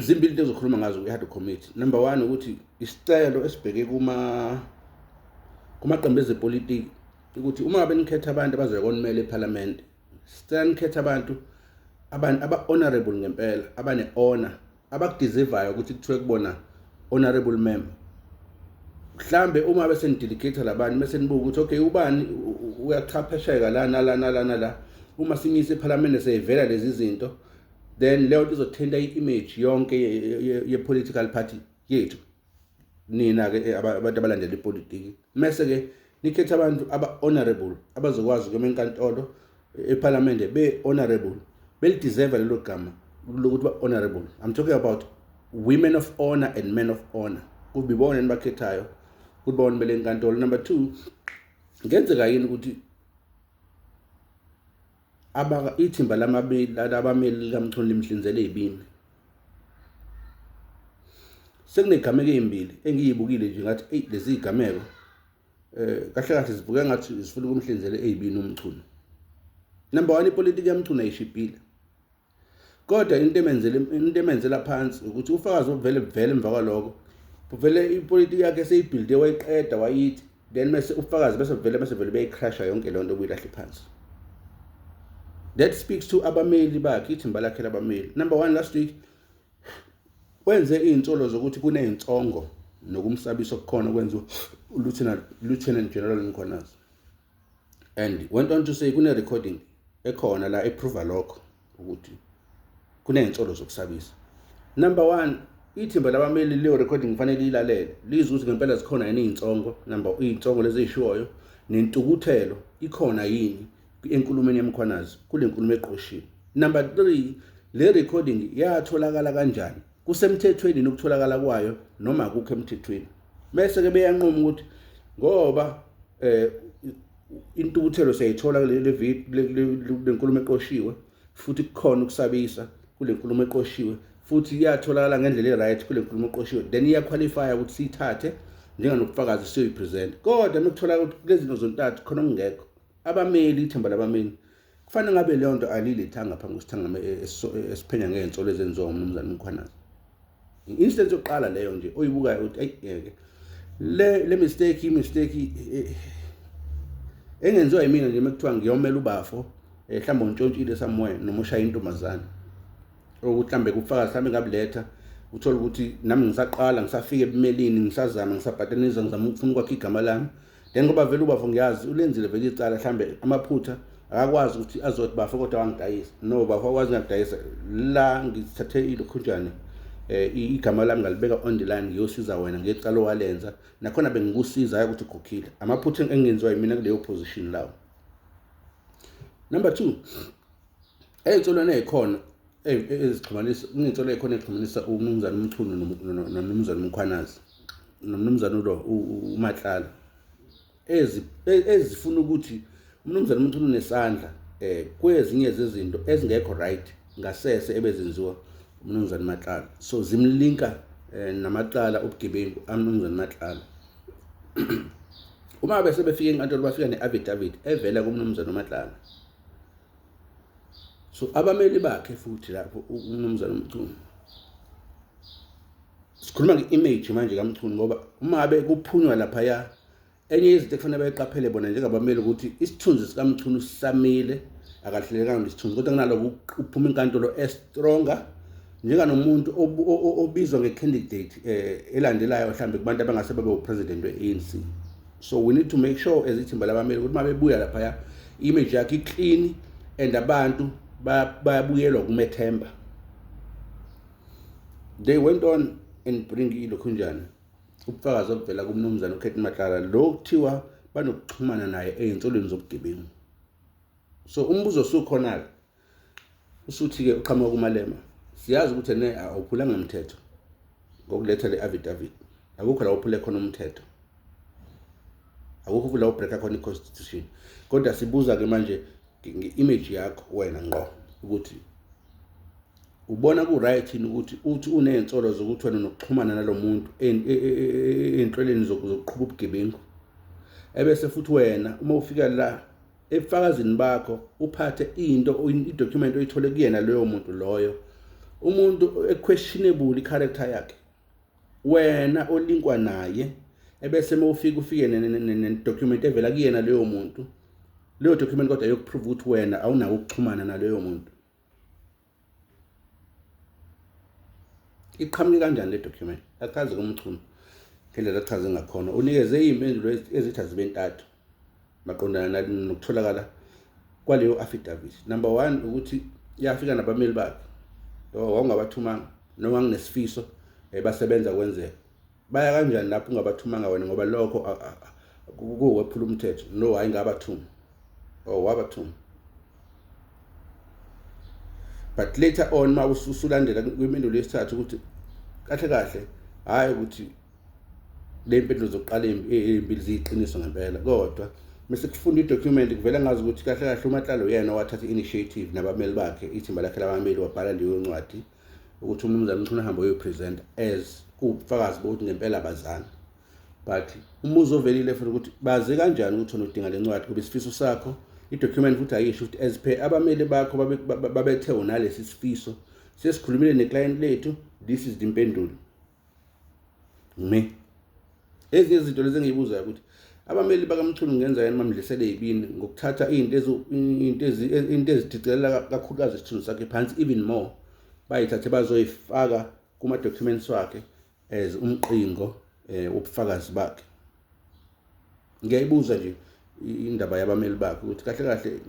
zimbili into ezokhuluma ngazo kwi-hard committee number one ukuthi isicelo esibheke kuma kumaqembu ezepolitiki ukuthi uma ngabe nikhetha abantu abazoya konimela ephalamende sicela nikhethe abantu abantu aba-honorable ngempela abane-honor abakudizivayo ukuthi kuthiwe kubona honorable member mhlambe uma bese nidelegate labantu bese nibuka ukuthi okay ubani uyachaphesheka la nala nala nala uma simisa ephalamende seyivela lezi zinto then leyo nto izothinta i-image yonke ye-political party yethu nina-ke eh, abantu abalandela ipolitiki mese-ke nikhetha abantu aba-honorable abazokwazi ukuyoma enkantolo eh, ephalamende be-honorable belideserve lelo gama lokuthi ba-honorable i'm talking about women of honor and men of honor kubi bona enibakhethayo ukuthi bona bele nkantolo number two ngenzeka yini ukuthi Abaka ithimba labameli likaMchunu limhlinzele ibini. Sekunezigameko ezimbili engiyibukile nje ngathi eyi lezi zigameko eh kahle kahle zivuke ngathi zifuna ukumhlinzela ezibini uMchunu. Number 1 ipolitiki yaMchunu ayishibhile. kodwa into emenzela into emenzela phansi ukuthi ufakazi obuvele buvele emva kwaloko buvele ipolitiki yakhe seyibuilde wayiqeda wayithi then mase ufakazi bese buvele bese vele beyicrasha yonke lento obuyilahle phansi that speaks to abameli bakhe ithimba lakhe labameli number 1 last week wenze izinsolo zokuthi kunezinsongo nokumsabisa okukhona kwenziwa uLieutenant Lieutenant General Mkhwanazi and went on to say kune recording ekhona la eprova lokho ukuthi kuney'nsolo zokusabisa number one ithimba labameli leyo recording kufanele ilalele lizwe ukuthi ngempela zikhona yini iy'nsongo number iy'nsongo lezi ey'shiwoyo nentukuthelo ikhona yini enkulumeni yemkhwanazi kule nkulumo eqoshiwe number three le recording yatholakala kanjani kusemthethweni nokutholakala kwayo noma akukho emthethweni bese ke beyanquma ukuthi ngoba eh intukuthelo siyayithola kule video lenkulumo eqoshiwe futhi kukhona ukusabisa kule nkulumo eqoshiwe futhi iyatholakala ngendlela e-right kule nkulumo eqoshiwe then iyaqualifya ukuthi siyithathe njenganobufakazi siyoyipresenta kodwa uma kutholakala ukuthi kulezinto zontathu khona okungekho abameli ithemba labameli Kufanele ngabe leyo nto alilethanga phambi kwesithangami e, e, esiphenya ngey'nsolo ezenziwa umnumzane umkhwanazi. I-instance yokuqala leyo nje oyibukayo ukuthi ayi ngeke le le mistake imistake e, engenziwa yimina nje mekuthiwa ngiyomela ubafo eh, mhlawumbe untshontshile somewhere noma ushaya intombazane okuthi mhlawumbe kubufakazi mhlawumbe ngabuletha uthole ukuthi nami ngisaqala ngisafika ebumelini ngisazama ngisabhatanisa ngizama ukufuna ukwakha igama lami then ngoba vele ubafo ngiyazi ulenzile vele icala mhlambe amaphutha akakwazi ukuthi azothi bafo kodwa wangidayisa no bafo akwazi ngakudayisa la ngithathe ilokhunjane eh igama lami ngalibeka on the line ngiyosiza wena ngecala owalenza nakhona bengikusiza ukuthi ukhokhile amaphutha engenziwa yimina kuleyo position lawo number 2 Ey'nsolweni ey'khona ezixhumanisa kuney'nsolo ey'khona ezixhumanisa uMnumzane uMchunu noMnumzane uMkhwanazi noMnumzane ulo uMatlala ezifuna ukuthi uMnumzane uMchunu nesandla eh kwezinye zezinto ezingekho right ngasese ebezenziwa uMnumzane Matlala so zimlinka eh, namacala obugebengu aMnumzane Matlala uma bese befika enkantolo bafika ne-affidavit evela kuMnumzane uMatlala so abameli bakhe futhi lapho umnumzane uMchunu sikhuluma nge-image manje kaMchunu ngoba uma abe kuphunywa laphaya enye izinto ekufanele bayiqaphele bona njengabameli ukuthi isithunzi sikamchunu sisamile akahlelekanga nesithunzi kodwa kunaloko uphuma inkantolo estronger njenganomuntu obizwa nge-candidate um elandelayo mhlawumbe kubantu abangase babe upresident we-anc so we need to make sure as ithimba labameli ukuthi uma bebuya laphaya image yakhe iclean and abantu bayabuyelwa kumethemba they went on and bring ilokhunjani ubufakazi obuvela kumnumzane ukhethi mahlala lo kuthiwa banokuxhumana naye ey'nsolweni zobugebengu so umbuzo osukhona-ke usuthi-ke uqhamuka kumalema siyazi ukuthi ene awuphulanga mthetho ngokuletha le affidavit akukho la uphule khona umthetho akukho la ubreaka khona i-constitution kodwa sibuza-ke manje nge-image yakho wena ngqo ukuthi ubona ku-right yini ukuthi uthi uney'nsolo zokuthi wena nokuxhumana nalo muntu e, e, e, ey'nhlweleni zokuqhuba ubugebengu ebese futhi wena uma ufika la ebufakazini bakho uphathe into idocument oyithole kuyena loyo muntu loyo umuntu equestionable icharacter yakhe wena olinkwa naye ebese mawufika ufike nedocument evela kuyena leyo muntu leyo document kodwa yokuprove ukuthi wena awunawo ukuxhumana naleyo muntu iqhamuke kanjani le document achaze kumchunu ngendlela achaze ngakhona unikeze iy'mpendulo ezithi azibe ntathu maqondana nokutholakala kwaleyo affidavit number one ukuthi yafika nabameli bakhe wawngabathumanga noma nginesifiso eh, basebenza kwenzeka baya kanjani lapho ungabathumanga wena ngoba lokho kuwephula umthetho no hayi ngabathuma or oh, wabathuma but later on ma usulandela kwimpendulo yesithathu ukuthi kahle kahle hayi ukuthi le mpendulo zokuqala ezimbili ziyiqiniso ngempela kodwa mase kufunda idocument kuvela ngazi ukuthi kahle kahle umatlalo yena owathatha i-initiative nabameli bakhe ithimba lakhe labameli wabhala leyo ncwadi ukuthi umnumzane uMchunu ahambe oyopresenta as ubufakazi bokuthi ngempela abazani but umuzi ovelile futhi ukuthi bazi kanjani ukuthi wena udinga le ncwadi kuba isifiso sakho i-document futhi ayisho ukuthi as per abameli bakho babethe unalesi sifiso sesikhulumile ne-client lethu this is the mpendulo me ezinye izinto lezi engiyibuzayo ukuthi abameli bakamchunu ngenza yena bamdlisele yibini ngokuthatha izinto izinto izinto ezidicilela kakhulukazi isithunzi sakhe phansi even more bayithathe bazoyifaka kuma documents wakhe as umqingo eh ubufakazi bakhe ngiyayibuza nje indaba yabameli bakhe ukuthi kahle kahle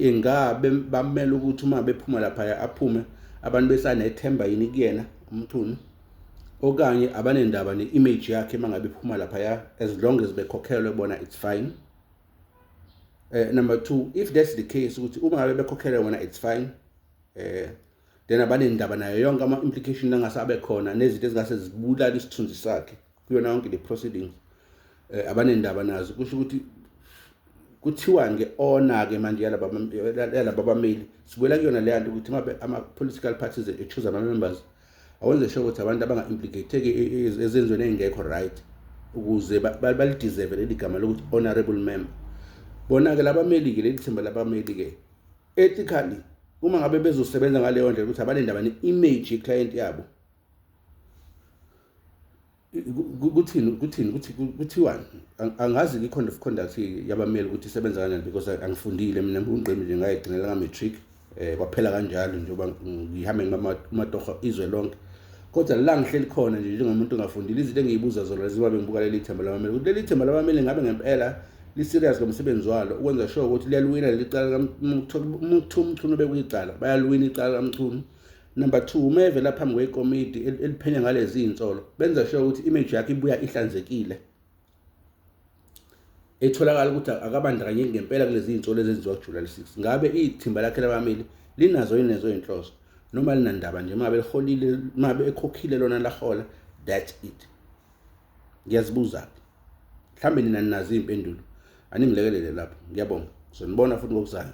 ingabe bamele ukuthi uma bephuma laphaya aphume abantu besanethemba yini kuyena umthuni okanye abanendaba ne-image yakhe uma ngabe iphuma laphaya as long as bekhokhelwe bona it's fine uh, number two if that's the case ukuthi uma ngabe bekhokhelwe bona it's fine eh then abanendaba nayo yonke ama-implication angase abe khona nezinto ezingase zibulala isithunzi sakhe kuyona yonke le proceedings eh, abanendaba nazo kusho ukuthi kuthiwani ke ona ke manje yalaba yalaba bameli sibuyela kuyona le yanto ukuthi ama political parties e choose ama members awenze sure ukuthi abantu abanga implicate ke ezenzweni engekho right ukuze balideserve leli gama lokuthi honorable member bona ke labameli ke leli thimba labameli ke ethically uma ngabe bezosebenza ngaleyo ndlela ukuthi abanendaba ne image ye client yabo kuthini kuthini kuthi kuthiwani angazi i-code of conduct yabameli ukuthi isebenza kanjani because angifundile mina ngungqimi nje ngayigcinela ka-matric um kwaphela kanjalo njengoba ngihambe ngimatoho izwe lonke kodwa la ngihleli khona nje njengomuntu ongafundile izinto engiyibuza zona leziba bengibuka leli themba labameli ukuthi leli themba labameli ngabe ngempela li-serious ngomsebenzi walo ukwenza sure ukuthi liyaliwina leli cala kuthiwa umchunu obekuyicala bayaliwina icala kamchunu Number 2 uma evela phambi kwekomidi eliphenya ngalezi insolo benza sure ukuthi image yakhe ibuya ihlanzekile etholakala ukuthi akabandakanyeki ngempela kulezi insolo ezenziwa kuJuly 6 ngabe ithimba lakhe labameli linazo inezo inhloso noma linandaba nje mabe liholile mabe ekhokhile lona lahola that's it ngiyazibuza mhlambe nina ninazi impendulo aningilekelele lapho ngiyabonga sonibona futhi ngokuzayo